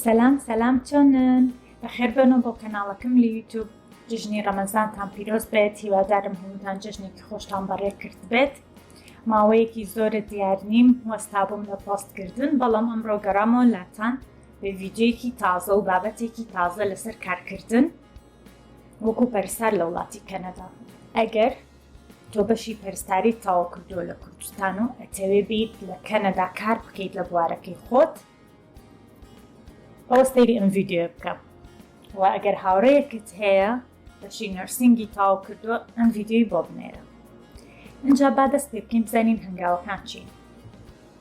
سەلام سەلام چۆنن بەخێر بەنەوە بۆ کەناڵەکەم لە یوتوب جژنی ڕەمەزانتان پیرۆز بێت هیوادارم هەمووتان جژنێکی خۆشتان بەڕێ کرد بێت ماوەیەکی زۆرە دیار نیم وەستا بووم لە پۆستکردن بەڵام ئەمڕۆ گەڕامەوە لاتان ڤیدیۆیەکی تازە و بابەتێکی تازە لەسەر کارکردن وەکو پەرستار لە وڵاتی کەنەدا ئەگەر تۆ بەشی پەرستاری تاوا کردووە لە کوردستان و ئەتەوێ بیت لە کەنەدا کار بکەیت لە بوارەکەی خۆت ئەوە سەیری ئەم ڤیددیو بکە و ئەگەر هاوڕەیەکت هەیە بەشی نرسینگی تاو کردووە ئەم ڤیددیوی بۆ بنێرە اینجا با دەست پێ بکەین بزانین هەنگاوەکان چین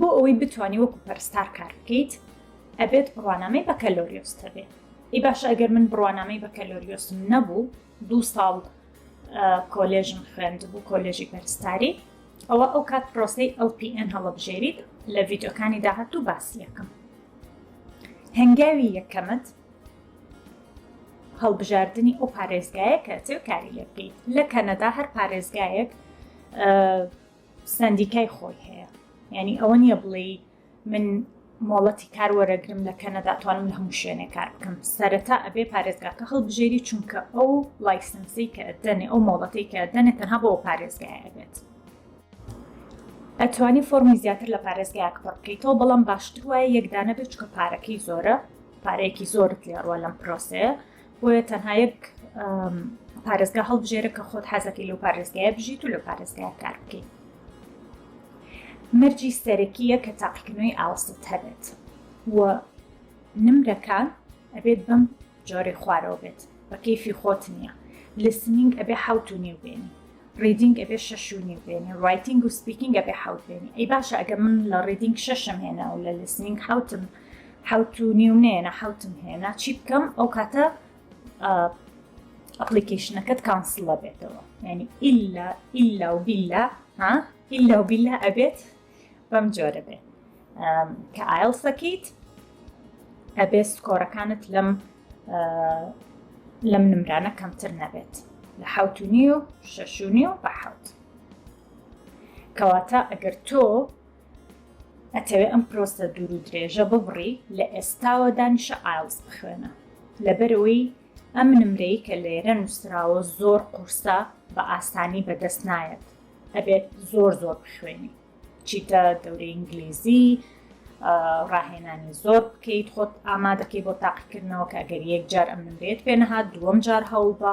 بۆ ئەوەی بتانی وەکو پەرستار کار بکەیت ئەبێت بڕوانامەی بەکەلۆریۆس هەبێت ئی باش ئەگەر من بڕوانامەی بەکەلۆریۆسم نەبوو دوو ساڵ کۆلێژم خوێند بوو کۆلێژی پەرستاری ئەوە ئەو کات پرۆسی LPN هەڵبژێریت لە ڤیددیوکانی داهاتوو باسیەکەم هەنگاوی یەکەمت هەڵبژاردنی ئەو پارێزگایە کە ئەچێ کاری لێ بکەیت لە کەنەدا هەر پارێزگایەک سندیکای خۆی هەیە یعنی ئەوە نییە بڵێ من مۆڵەتی کار وەرەگرم لە کەنەدا توانم لە هەموو شوێنێ کار بکەم سەرەتا ئەبێ پارێزگاکە هەڵبژێری چونکە ئەو لایسنسی کە دەنێ ئەو مۆڵەتی کە دەنێ تەنها بۆ پارێزگایە بێت ئەتوانی فۆرمی زیاتر لە پارێزگایەک پڕکەیتەوە بەڵام باشتر وایە یەکدانە بێت چکە پارەکەی زۆرە پارەیەکی زۆرت لێڕوە لەم پرۆسەیە بۆیە تەنها یەک پارێزگا هەڵبژێرە کە خۆت حەزەکەی لەو پارێزگایە بژیت و لە پارێزگای کار بکەیت مەرجی سەرەکیە کە تاقیکردنەوەی ئاوەستت هەبێت و نمرەکان ئەبێت بەم جۆری خوارەوە بێت بە کەیفی خۆت نییە لسنینگ ئەبێ حوت و نیو بێنی ریدینگ ئەبێ شەش و نیو بێنی ڕایتینگ و سپیکینگ ئەبێ حوت بێنی ئەی باشە ئەگە من لە ڕیدینگ شەشم هێنا و لە لسنینگ حوتم حەوت و نیو نێنە حەوتم هێنا چی بکەم ئەو کاتە ئەپلیکیشنەکەت کانسڵە بێتەوە ینی ئللا ئللا و بیللا ها ئللا و بیللا ئەبێت بەم جۆرە بێت کە ئایل سەکەیت ئەبێ سکۆرەکانت لەم لەم نمرانە کەمتر نەبێت لە حوت و نیو شەشونی و بە حوت کەواتە ئەگەر تۆ ئەتەوێ ئەم پرۆسە دوور و درێژە ببڕی لە ئێستاوە دانیشە ئایڵس بخوێنە لەبەرەوەی ئەم نمرەی کە لێرە نووسراوە زۆر قورسە بە ئاسانی بەدەست نایەت ئەبێت زۆر زۆر بخوێنی چیتە دەورە ئینگلیزی ڕاهێنانی زۆر بکەیت خۆت ئامادەکەی بۆ تاقیکردنەوە کە گەر یەک جار ئەم نمرێت پێ نەهات دووەم جار هەوڵ بە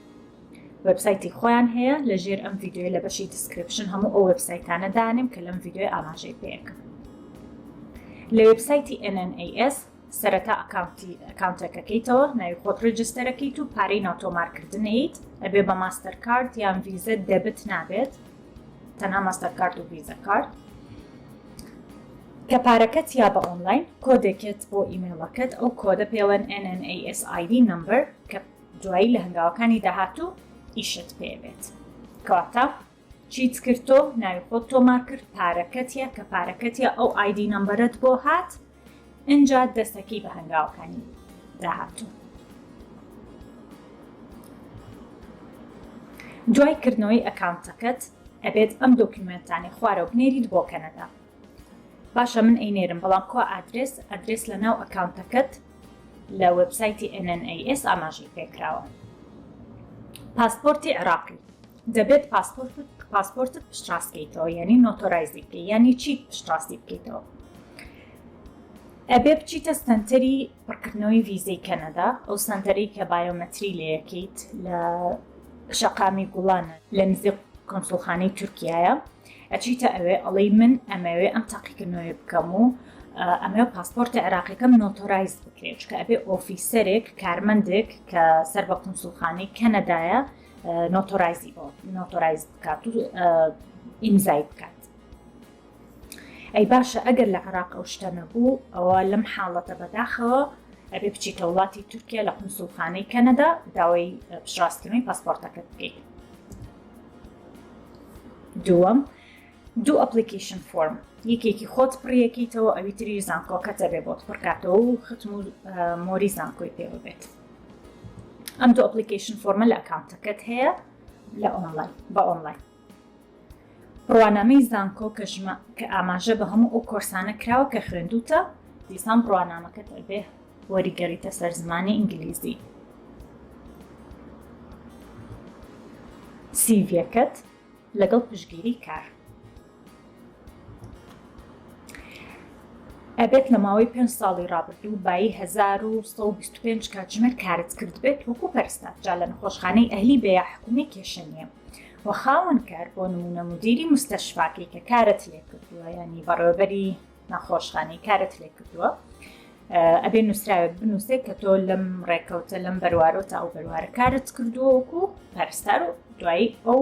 وێبسایتی خۆیان هەیە لەژێر ئەم ڤیدیۆی لە بەشی دیسکرپشن هەموو ئەو وێبسایتانە دانێم کە لەم ڤیدیۆی ئاماژەی پێکرد لە وێبسایتی NNAS سەرەتا ئەکاونتی ئەکاونتەکەکەیتەوە ناوی خۆت ڕجستەرەکەیت و پارەی ناتۆمارکردنیت ئەبێ بە ماستەر کارت یان ڤیزە دەبت نابێت تەنها ماستەر کارت و ڤیزە کارت کە پارەکەت یا بە ئۆنلاین کۆدێکێت بۆ ئیمێڵەکەت ئەو کۆدە پێوەن NNASID نمبەر کە دوایی لە هەنگاوەکانی داهاتوو ئیشت پێ بێت کەواتە چیت کرد تۆ ناوی خۆت تۆمار کرد پارەکەتە کە پارەکەتە ئەو ئایدی نمبەرت بۆ هات ئەجا دەستەکەی بە هەنگاوەکانی داهاتوو دوای کردنەوەی ئەکاونتەکەت ئەبێت ئەم دۆکیومنتانی خوارەوە بنێریت بۆ کەنەدا باشە من ئەینێرم بەڵام کوا ئادرێس ئەدرێس لە ناو ئەکاونتەکەت لە وبسایتی NNAS ئاماژەی پێکراوە پاسپۆرتی عراقی دەبێت پاسپۆرت پاسپۆرتت پشتڕاستکەیتەوە یعنی نۆتۆرایزی بکە یعنی چی پشتڕاستی بکەیتەوە ئەبێ بچیتە سنتەری پڕکردنەوەی ویزەی کەنەدا ئەو سنتەری کە بایۆمەتری لەیەکیت لە شەقامی گوڵانە لە نزیک کۆنسڵخانەی تورکایە ئەچیتە ئەوێ ئەڵی من ئەمەوێ ئەم تاقیکردنەوەی بکەم و ئەمە پاسپۆرتی عراقیەکەم نۆتۆرایز بکرێت چکە ئەبێ ئۆفیسەرێک کارمەندێک کە سەر بە قونسولخانی کەنەدایە نۆتۆرایزی بۆ نۆتۆرایز بکات و ئیمزای بکات ئەی باشە ئەگەر لە عراق ئەو شتە نەبوو ئەوە لەم حاڵەتە بەداخەوە ئەبێ بچیتە وڵاتی تورکیا لە قونسولخانەی کەنەدا داوای پشڕاستکردنی پاسپۆرتەکە بکەیت دووەم دوو ئەپلیکیشن فۆرم یەکێکی خۆت پڕیەکەیتەوە ئەوی تری زانکۆکەتە بێ بۆت پڕکاتەوە و ختم و مۆری زانکۆی پێوە بێت ئەم دوو ئەپلیکیشن فۆرمە لە ئەکاونتەکەت هەیە لە ئۆنلاین بە ئۆنلاین ڕوانامەی زانکۆ کە ژمە کە ئاماژە بە هەموو ئەو کۆرسانە کراوە کە خوێندوتە دیسان ڕوانامەکەت بێ وەریگەڕیتە سەر زمانی ئینگلیزی. سیڤیەکەت لەگەڵ پشگیری کار. ئەبێت لە ماوەی پێنج ساڵی ڕابردوو بایی 1925 کاتژمێر کارت کرد بێت وەکو پەرستار جا لە نەخۆشخانەی ئەهلی بێ یا حکومی کێشە نییە و خاوەن کار بۆ نمونە مدیری مستەشفاکەی کە کارت لێ کردووە یانی بەڕێوەبەری نەخۆشخانەی کارت لێ کردووە ئەبێ نووسراوێک بنووسێت کە تۆ لەم ڕێککەوتە لەم بەروارۆ تا ئەو بەروارە کارت کردووەکو پەرستار و دوایی ئەو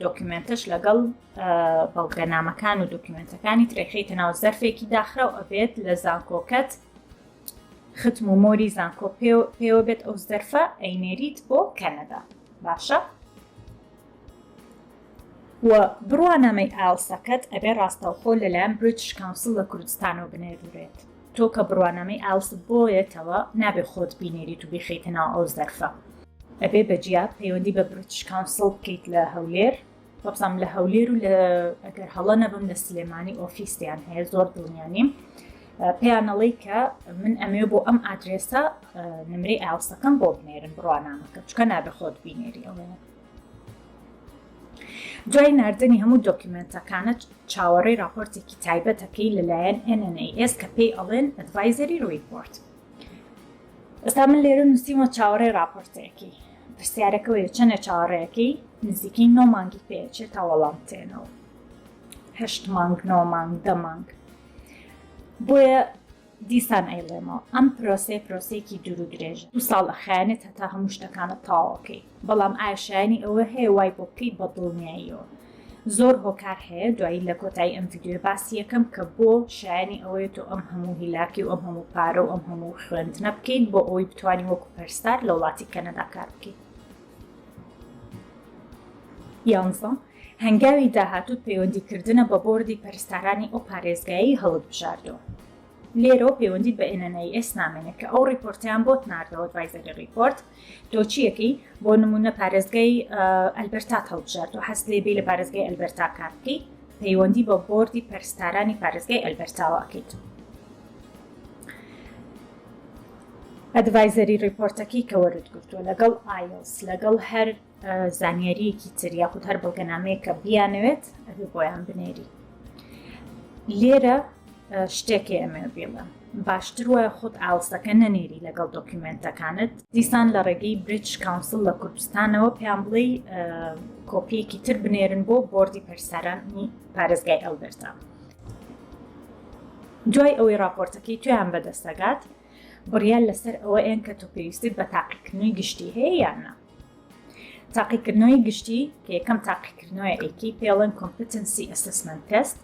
دۆکیمنتش لەگەڵ بەڵگەنامەکان و دۆکیمنتەکانی ترێخیتە ناو زەرفێکی داخرا و ئەبێت لە زانکۆکەت ختم و مۆری زانکۆ پێوە بێت ئەو زەرفە ئەینێریت بۆ کەنەدا باشە و بڕوانامەی ئایڵسەکەت ئەبێ ڕاستەوخۆ لەلایەن بریتش کاونسڵ لە کوردستانەوە بنێرورێت تۆ کە بڕوانامەی ئایڵست بۆیەتەوە نابێ خۆت بینێریت و بیخەیتە ناو ئەو زەرفە ئەبێ بە جیا پەیوەندی بە بریتش کاونسڵ بکەیت لە هەولێر وەبزانم لە هەولێر و لە ئەگەر هەڵە نەبم لە سلێمانی ئۆفیسیان هەیە زۆر دڵنیا نیم پێیانەڵی کە من ئەمێ بۆ ئەم ئادرێسە نمرەی ئاوسەکەم بۆ بنێرن بڕوانامەکە چکە نابێ خۆت بینێری ئەوەیە دوای ناردنی هەموو دۆکیومێنتەکانت چاوەڕێی راپۆرتێکی تایبەتەکەی لەلایەن NNAS کە پێی ئەڵێن ئەدڤایزەری ریپۆرت ئێستا من لێرە نووسیمە چاوەڕێ راپۆرتێکی پرسیارەکەوەی چەندە چاوەڕێەکەی نزیکەی نۆ مانگی پێچێت تا وەڵام تێنەوە هەشت مانگ نۆ مانگ دە مانگ بۆیە دیسان ئەیڵێمەوە ئەم پرۆسەیە پرۆسەیەکی دوور و درێژە، دوو ساڵ ئەخایەنێت هەتا هەموو شتەکانت تەواو کەی، بەڵام ئایا شایەنی ئەوە هەیە وای بۆ بکەی بە دڵنیاییەوە؟ زۆر هۆکار هەیە دوایی لە کۆتایی ئەم ڤیدیۆیە باسی یەکەم کە بۆ شایەنی ئەوەیە تۆ ئەم هەموو هیلاکی و ئەم هەموو پارە و ئەم هەموو خوێندنە بکەیت بۆ ئەوەی بتوانی وەکو پەرستار لە وڵاتی کەنەدا کار بکەیت یانزە. هەنگاوی داهاتووت پەیوەندیکردنە بە بۆردی پەرستارانی ئەو پارێزگایەی هەڵتبژاردووە. لێرەوە پەیوەندیت بە NNIS نامێنێت کە ئەو ڕیپۆرتەیان بۆت ناردەوە ئەدڤایزەری ڕیپۆرت دۆچییەکەی بۆ نموونە پارێزگای ئەلبەرتات هەڵبژاردووە حەزت لێ بێی لە پارێزگای ئەلبەرتا کار بکەی پەیوەندی بە بۆردی پەرستارانی پارێزگای ئەلبەرتاوە ئەکەیت. ئەدڤایزەری ڕیپۆرتەکەی کە وەرت گرتووە لەگەڵ ئایلس لەگەڵ هەر زانیاریەکی تر یاخود هەر بەڵگەنامەیە کە بیانەوێت ئەبێ بۆیان بنێری لێرە شتێکی ئەمێ بێڵە باشتر وایە خۆت ئاڵسەکە نەنێری لەگەڵ دۆکیومنتەکانت دیسان لە ڕێگەی بریچ کاونسل لە کوردستانەوە پێیان بڵێ کۆپیەکی تر بنێرن بۆ بردی پرسەرانی پارێزگای ئەلبەرتا دوای ئەوەی راپۆرتەکەی تویان بەدەستەگات بڕیان لەسەر ئەوە ئێن کە تۆ پێویستیت بە تاقیکردنی گشتی هەیە یانە تاقیکردنەوەی گشتی کە یەکەم تاقیکردنەوەی ئەیکی پێڵێن کۆمپتنسی ئەسسمنت تێست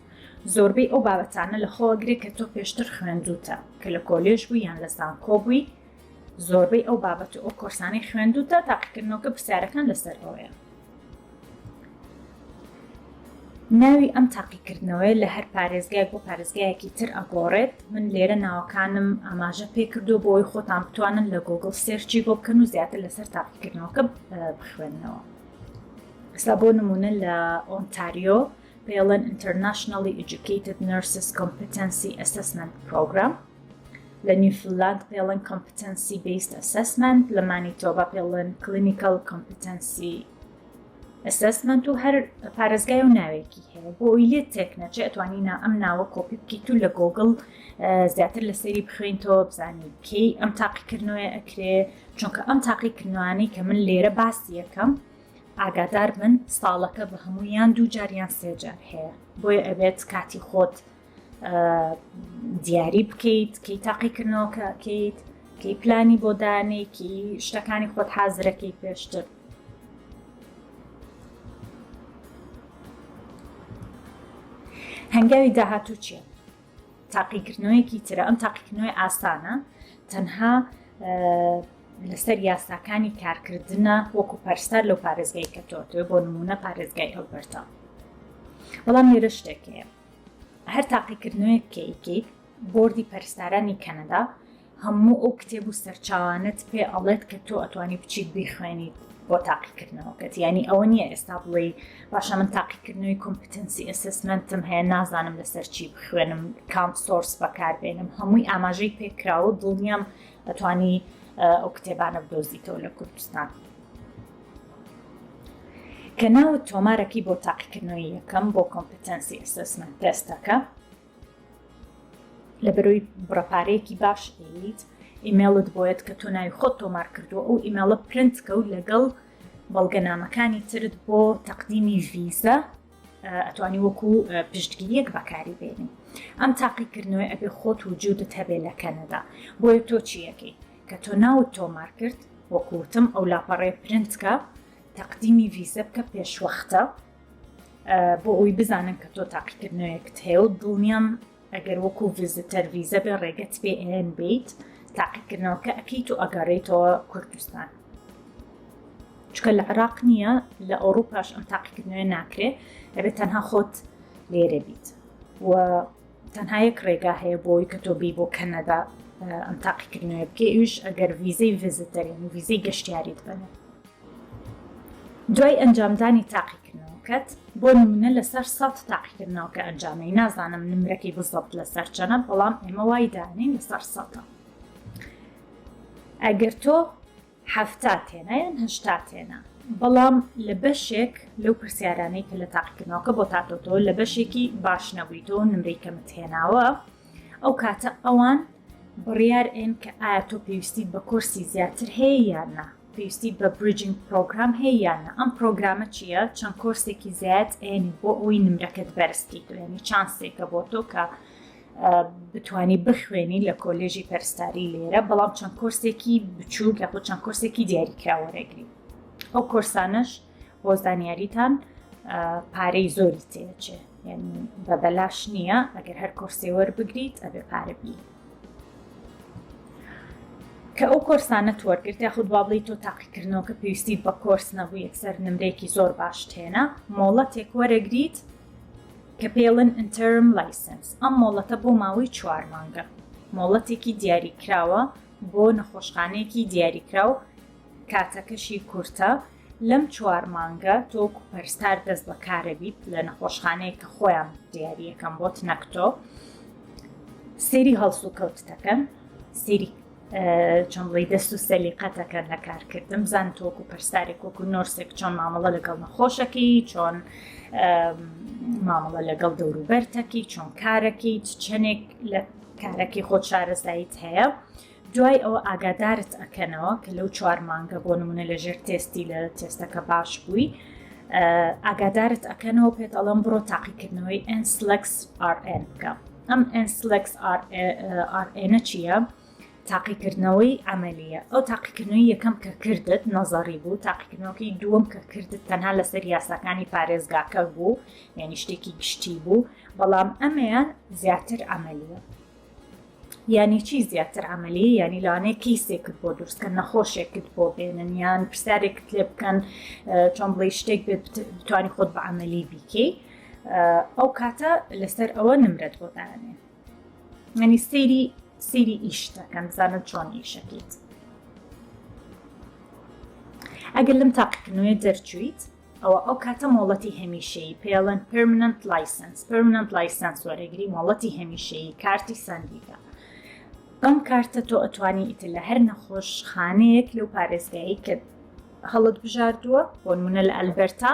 زۆربەی ئەو بابەتانە لە خۆوە گرێ کە تۆ پێشتر خوێندوتە کە لە کۆلێژ بووی یان لە زانکۆ بووی زۆربەی ئەو بابەت و ئەو کۆرسانەی خوێندوتە تاقیکردنەوەکە پرسیارەکان لەسەر ئەوەیە ناوی ئەم تاقیکردنەوەیە لە هەر پارێزگایەک بۆ پارێزگایەکی تر ئەگۆڕێت من لێرە ناوەکانم ئاماژە پێ کردو بۆ ئەوی خۆتان بتوانن لە گۆگل سێرچی بۆ بکەن و زیاتر لەسەر تاقیکردنەوەکە بخوێنەوە ئستا بۆ نمونە لە ئۆنتاریۆ پێڵەن Internationally Educated Nurses Competency Assessment Program لە نیوفلاند پێڵەن Competency Based Assessment لە مانیتۆبا پێڵەن Clinical Competency ئەسسمنت و هەر پارێزگای و ناوێکی هەیە بۆی لێت تێک نەچێ ئەتوانی نا ئەم ناوە کۆپی بکەیت و لە گۆگڵ زیاتر لە سەیری بخوێنیتەوە بزانین کەی ئەم تاقیکردنەوەی ئەکرێ چونکە ئەم تاقیکردنوانەی کە من لێرە باسی یەکەم ئاگادار من ساڵەکە بە هەموویان دوو جاریان سێجار هەیە بۆیە ئەبێت کاتی خۆت دیاری بکەیت کی تاقیکردنەوەکە بکەیت کی پلانی بۆ دانێکی شتەکانی خۆت حازرەکەی پێشتر هەنگاوی داهاتوو چیە تاقیکردنەوەیەکی ترە ئەم تاقیکردنەوەی ئاسانە تەنها لەسەر یاساکانی کارکردە وەکو پەرستار لەو پارێزگای کە تۆ تۆ بۆ نمونە پارێزگای ئەو بەرتە بەڵام لێرە شتێکەیە هەر تاقیکردنەوەیەک کەیکەیت بۆردی پەرستارانی کەنەدا هەموو ئەو کتێب و سەرچاوانت پێ ئەڵێت کە تۆ ئەتوانی بچیت بیخوێنیت بۆ تاقیکردنەوەکەت ینی ئەوە نییە ئێستا بڵێ باشە من تاقیکردنەوەی کۆمپتنسی ئەسسمنتم هەیە نازانم لەسەر چی بخوێنم کام سۆرس بەکاربێنم هەمووی ئاماژەی پێکراوە دڵنیام ئەتوانی ئەو کتێبانە بدۆزیتەوە لە کوردستان. کە ناوت تۆمارەکەی بۆ تاقیکردنەوەی یەکەم بۆ کۆمپتەنسی ئەسسمنت تێستەکە لە بەرەوەی بڕەپارەیەکی باش ئەیت ئیمێڵت بۆیت کە تۆ ناوی خۆت تۆمار کردووە ئەو ئیمێڵە پرنت کەوت لەگەڵ بەڵگەنامەکانی ترت بۆ تەقدیمی ڤیزە ئەتوانی وەکو پشتگیریەک بەکاری بێنی ئەم تاقیکردنەوەی ئەبێ خۆت وجودت هەبێ لە کەنەدا بۆیە تۆ چیەکەی کە تۆ ناوت تۆمار کرد وەکو وتم ئەو لاپەڕەیە پرنت کە تەقدیمی ڤیزە بکە پێشوەختە بۆ ئەوی بزانن کە تۆ تاقیکردنەوەیەکت هەیە و دڵنیام ئەگەر وەکو ڤزیتەر ڤیزە بێ ڕێگەت پێ ئێن بیت تاقیکردنەوەکە ئەکەیت و ئەگەڕێیتەوە کوردستان چکە لە عراق نییە لە ئەوروپاش ئەم تاقیکردنەوە ناکرێت ئەبێت تەنها خۆت لێرە بیت و تەنها یەک ڕێگا هەیە بۆی کە تۆ بی بۆ کەنەدا ئەم تاقیکردنەوە بکە ئیش ئەگەر ویزەی ڤزیتەرین و ویزەی گەشتیاریت بنێت دوای ئەنجامدانی تاقیکردنەوەکەت بۆ نمونە لەسەر سەد تاقیکردنەوەکە ئەنجامی نازانم نمرەکەی بزەبت لەسەر چەنە بەڵام ئێمە وای دانین لەسەر سەدە ئەگەر تۆ حەفتا تێنا یان هەشتا تێنا؟ بەڵام لە بەشێک لەو پرسیارانەی کە لە تاقیکردنەوەکە بۆت هاتووە تۆ لە بەشێکی باش نەبوویتەوە نمرەی کەمت هێناوە ئەو کاتە ئەوان بڕیار ئێن کە ئایا تۆ پێویستی بە کۆرسی زیاتر هەیە یان نا پێویستی بە بریجنگ پرۆگرام هەیە یان نا ئەم پرۆگرامە چییە چەند کۆرسێکی زیات ئێنی بۆ ئەوی نمرەکەت بەرزکەیت یعنی چانسێکە بۆ تۆ کە بتوانی بخوێنی لە کۆلێژی پەرستاری لێرە بەڵام چەند کۆرسێکی بچووک یاخود چەند کۆرسێکی دیاریکرا وەرەگری ئەو کۆرسانەش بۆ زانیاریتان پارەی زۆری تێچێ بە بەلاش نییە ئەگەر هەر کۆرسێ وەربگریت ئەبێ پارەبی کە ئەو کۆرسانە توەرگرت یاخود بابلی تۆ تاقیکردنەوە کە پێویستی بە کۆرس نەبوو یەکسەر نمرێکی زۆر باش تێنە مۆڵەتێک وەرەگریت کە پێڵێن Interim License، ئەم مۆڵەتە بۆ ماوەی چوار مانگە، مۆڵەتێکی دیاریکراوە بۆ نەخۆشخانەیەکی دیاریکراو، کاتەکەشی کورتە، لەم چوار مانگە تۆ وەکو پەرستار دەست بە کارەبیت لە نەخۆشخانەیەک کە خۆیان دیاریەکەن بۆت نەک تۆ، سەیری هەڵسوکەوتتەکەن، سەیری چەمڵی دەست و سەلیقەتەکە لە کارکردم زان تۆکو پرسارێک وەکو نۆرسێک چۆن مامەڵە لەگەڵ نەخۆشەکەی چۆن مامەڵە لەگەڵ دەوروبەرتەکی چۆن کارەکەی چەنێک لە کارەکەی خۆ شارەزاییت هەیە دوای ئەوە ئاگادارت ئەکەنەوە کە لەو چوار مانگە بۆ نمونە لەژێر تێستی لە تێستەکە باش بووی ئاگادارت ئەکەنەوە پێت ئەڵم بڕۆ تاقیکردنەوەی ئەسلکس RN بکە ئەم NCLEX-RNە چییە؟ تاقیکردنەوەی ئەمەلیە ئەو تاقیکردنەوەی یەکەم کە کردت نەزاری بوو تاقیکردنەوەی دووەم کە کردت تەنها لەسەر یاساکانی پارێزگاکە بوو یعنی شتێکی گشتی بوو بەڵام ئەمەیان زیاتر ئەمەلیە یعنی چی زیاتر عملی یعنی لەوانەیە کیسێکت بۆ دروستکە نەخۆشێکت بۆ بێنن یان پرسیارێکت لێ بکەن چۆن بڵی شتێک بێت بتوانانی خۆت بە عملی بیکەی ئەو کاتە لەسەر ئەوە نمرەت بۆ دانێ منی سەیری سەیری ئیشتەکەم زانە چۆن ئیشەکەیت ئەگەر لەم تاقیکردنەوەی دەرچویت ئەوە ئەو کاتە مۆڵەتی هەمیشەی پێڵەن پرمننت لایسنس پرمننت لایسنس وەرەگری مۆڵەتی هەمیشەی کارتی سندیکە ئەم کارتە تۆ ئەتوانی ئیتر لە هەر نەخۆش خانەیەک لەو پارێزگایی کە هەڵت بژاردووە بۆنمونە لە ئەلبەرتا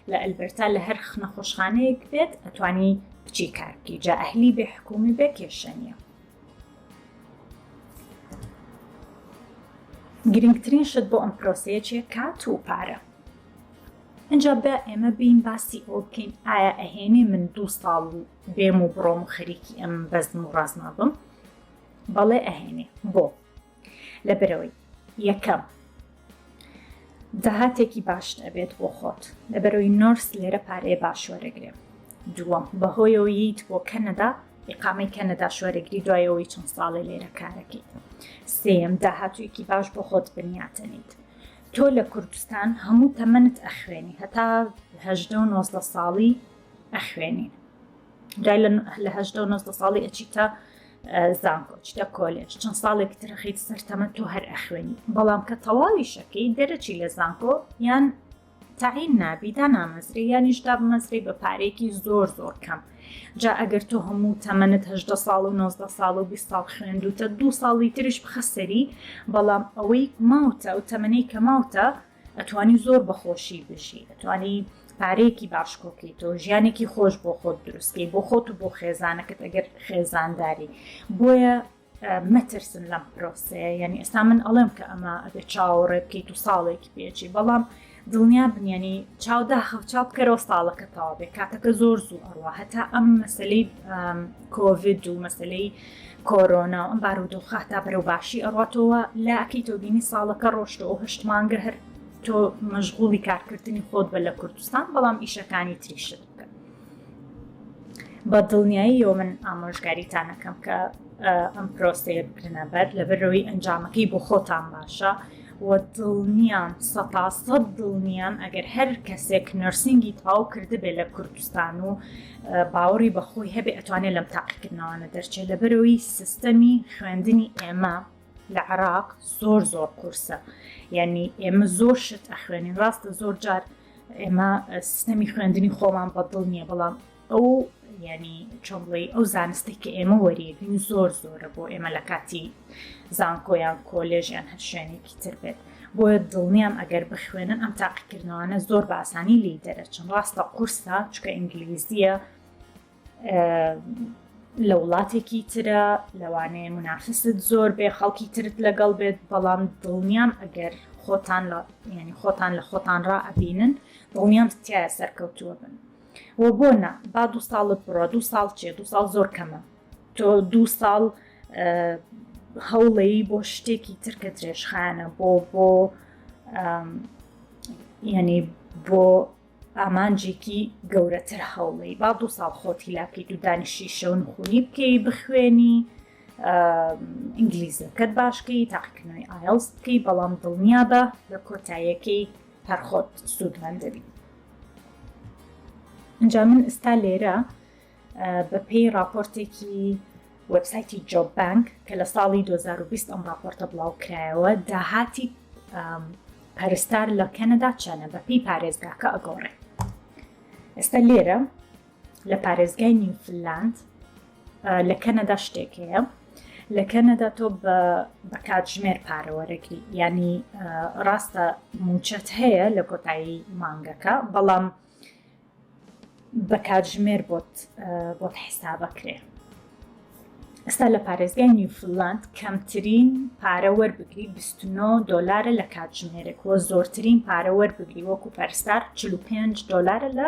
لە ئەلبەرتا لە هەر نەخۆشخانەیەک بێت ئەتوانی بچی کار بکەی جا ئەهلی بێ حکومی بێ کێشە نیە گرنگترین شت بۆ ئەم پرۆسەیە چیە کات و پارە ئەجا بە ئێمە بین باسی ئەو بکەین ئایا ئەهێنێ من دوو ساڵ و بێم و بڕۆم و خەریکی ئەم بەزم و ڕازما بم بەڵێ ئەهێنێ بۆ لە بەرەوەی یەکەم داهاتێکی باش دەبێت بۆ خۆت لە بەرەوەی نۆرس لێرە پارەیە باش وەرەگرێ دووەم بەهۆیەوەیت بۆ کەنەدا ئقامەی کەنەدا شوەرەگری دوایەوەی چەند ساڵە لێرە کارەکەیت سێم داهاتوویەکی باش بۆ خۆت بنیاتەنیت تۆ لە کوردستان هەموو تەمەنت ئەخوێنی هەتا هەدە و نۆزدە ساڵی ئەخوێنی دوای لە هەدە و نۆزدە ساڵی ئەچیتە زانکۆ چتە کۆلێژ چەند ساڵێک ترەخیت سەرتەمە تۆ هەر ئەخوێنی بەڵام کە تەواوی شەکەی دەرەچی لە زانکۆ یان تعین نابی دا نامەزری یانیش دا بمەزری بە پارێکی زۆر زۆر کەم جا ئەگەر تۆ هەموو تەمەنت هەدە ساڵ و 19 ساڵ و 20 ساڵ خوێندوتە دو ساڵی تریش بخەسەری بەڵام ئەوەی ماوتە و تەمەەی کە ماوتە ئەتوانی زۆر بەخۆشی بژی ئەتوانی پارەیەکی باش کۆکەیتەوە ژیانێکی خۆش بۆ خۆت دروستکەی بۆ خۆت و بۆ خێزانەکەت ئەگەر خێزانداری بۆیە مەترسن لەم پرۆسەیە یعنی ئێستا من ئەڵێم کە ئەمە ئەبێ چاوەڕێ بکەیت و ساڵێکی پێچی بەڵام دڵنیا بنیێنی چاودا خەوچا بکەرەوە ساڵەکە تاوا بێ کاتەکە زۆر زوو ئەڕوا هەتا ئەم مەسلەی کۆڤید و مەسلەی کۆرۆنا و ئەم بارودۆخە هەتا بەرەو باشی ئەڕاتەوە لا ئەکەیتەوە بینی ساڵەکە ڕۆشتە و هەشت مانگە هەر تۆ مەشغوڵی کارکردنی خۆت بە لە کوردستان بەڵام ئیشەکانی تریشت بکە بە دڵنیاییەوە من ئامۆژگاریتانەکەم کە ئەم پرۆسەیە بکرنە بەر لەبەرەوەی ئەنجامەکەی بۆ خۆتان باشە و دڵنیام سەتا سەد دڵنیام ئەگەر هەر کەسێک نەرسینگی تەواو کردبێ لە کوردستان و باوەڕی بەخۆی هەبێ ئەتوانێت لەم تاقیکردنەوانە دەرچێت لەبەرەوەی سیستەمی خوێندنی ئێمە لە عراق زۆر زۆر قورسە یعنی ئێمە زۆر شت ئەخوێنین ڕاستە زۆر جار ئێمە سیستەمی خوێندنی خۆمان بەدڵ نییە بەڵام ئەو یانی چۆنڵی ئەو زانستێک کە ئێمە وەریەگرین زۆر زۆرە بۆ ئێمە لە کاتی زانکۆیان کۆلێژیان هەر شوێنێکی تر بێت بۆیە دڵنیام ئەگەر بخوێنن ئەم تاقیکردنەوەانە زۆر باسانی لی دەرەچن ڕاستە قورسە چکە ئینگلیزیە لە وڵاتێکی ترە لەوانەیە منافست زۆر بێ خەڵکی ترت لەگەڵ بێت بەڵام دڵنیام ئەگەر خۆتان لە ینی خۆتان لە خۆتان ڕائبینن دڵنیام تایە سەرکەوتووە بن وە بۆ نا با دوو ساڵت بڕوا دوو ساڵ چیە دوو ساڵ زۆر کەمە تۆ دوو ساڵ هەوڵەیی بۆ شتێکی ترکە درێژخانە بۆ بۆ یعنی بۆ ئامانجێکی گەورەتر هەوڵی با دوو ساڵ خۆتی لاکەی دوو دانیشی شەون خونی بکەی بخوێنی ئینگلیزەکەت باشکەی تاقیکردنەوەی ئایلز بکەی بەڵام دڵنیا بە لە کۆتایەکەی هەرخۆت سوودمەند دەبی ئینجا من ئستا لێرە بەپێی راپۆرتێکی وەبسایتی جۆب بانک کە لە ساڵی 2020 ئەم راپۆرتە بڵاو کرایەوە داهاتی پەرستار لە کەنەدا چەنە بەپی پارێزگاکە ئەگۆڕێ ئێستا لێرە لە پارێزگای نیوفلاند لە کەنەدا شتێک هەیە لە کەنەدا تۆ بە کاتژمێر پارەوەرەگری ینی ڕاستە موچەت هەیە لە کۆتایی مانگەکە بەڵام بە کاتژمێر بۆت بۆت حسابەکرێ ئستا لە پارێزگای نیوفلاند کەمترین پارە وەربگری 29 دلارە لە کاتژمێرێک وە زۆرترین پارە وەربگری وەکو پەرستار 45 دلارە لە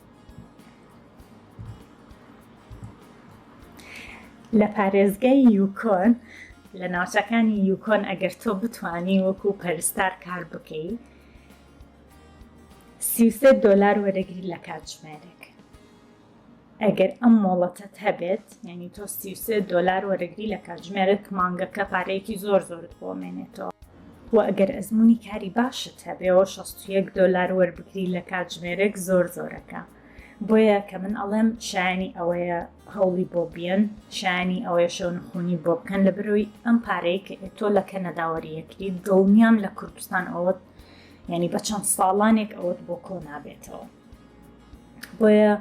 لە پارێزگای یوکۆن لە ناوچەکانی یوکۆن ئەگەر تۆ بتانی وەکو پەرستار کار بکەی سیسە دۆلار وەرەگری لە کاتژمێرێک ئەگەر ئەم مۆڵەتت هەبێت یعنی تۆ سیسە دۆلار وەرەگری لە کاتژمێرێک مانگەکە پارەیەکی زۆر زۆرت بۆمێنێتەوە وە ئەگەر ئەزموونی کاری باشت هەبێەوە شەست و یەک دۆلار وەربگری لە کاتژمێرێک زۆر زۆرەکە بۆیە کە من ئەڵێم شایانی ئەوەیە هەوڵی بۆ بیەن شایانی ئەوەیە شەو نخونی بۆ بکەن لە برۆی ئەم پارەیە کە ئێتۆ لە کەنەداوەریەکری دڵنیام لە کوردستان ئەوەت ینی بە چەند ساڵانێک ئەوەت بۆ کۆ نابێتەوە بۆیە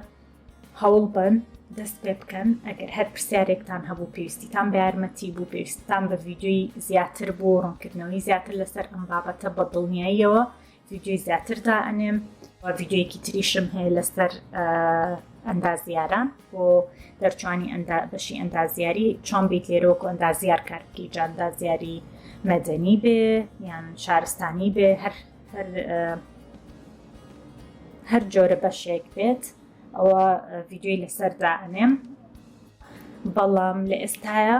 هەوڵبەن دەست پێ بکەن ئەگەر هەر پرسیارێکتان هەبوو پێویستیتان بە یارمەتی بوو پێویستتان بە ڤیددیوی زیاتر بوو ڕوونکردنەوەی زیاتر لەسەر ئەم بابەتە بە دڵنیاییەوە ڤیددیوی زیاتردا ئەنێم و ڤیددیویەکی تریشم هەیە لەسەر ئەندازیاران بۆ دەرچوانی بەشی ئەندازیاری چۆن بیت لێرۆک و ئەندازیار کارکی جاندازیاری مەدەنی بێ یان شارستانی بێ هەر هەر جۆرە بەشێک بێت ئەوە ڤیددیوی لەسەر دائەنێم بەڵام لە ئێستاە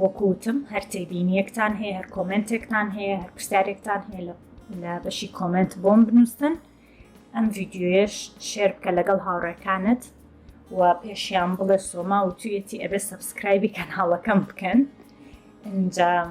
وەکوتم هەر تێبینیەکتان هەیە هەر کۆمنتێکتان هەیە هەر پرسیارێکتان هەیە لە لە بەشی کۆمنت بۆم بنووسن ئەم ڤیددیوێش شێر بکە لەگەڵ هاوڕێکانت و پێشیان بڵێ سۆما و تویەتی ئەبێ سبسکرایبی کەناڵەکەم بکەن ئەنجام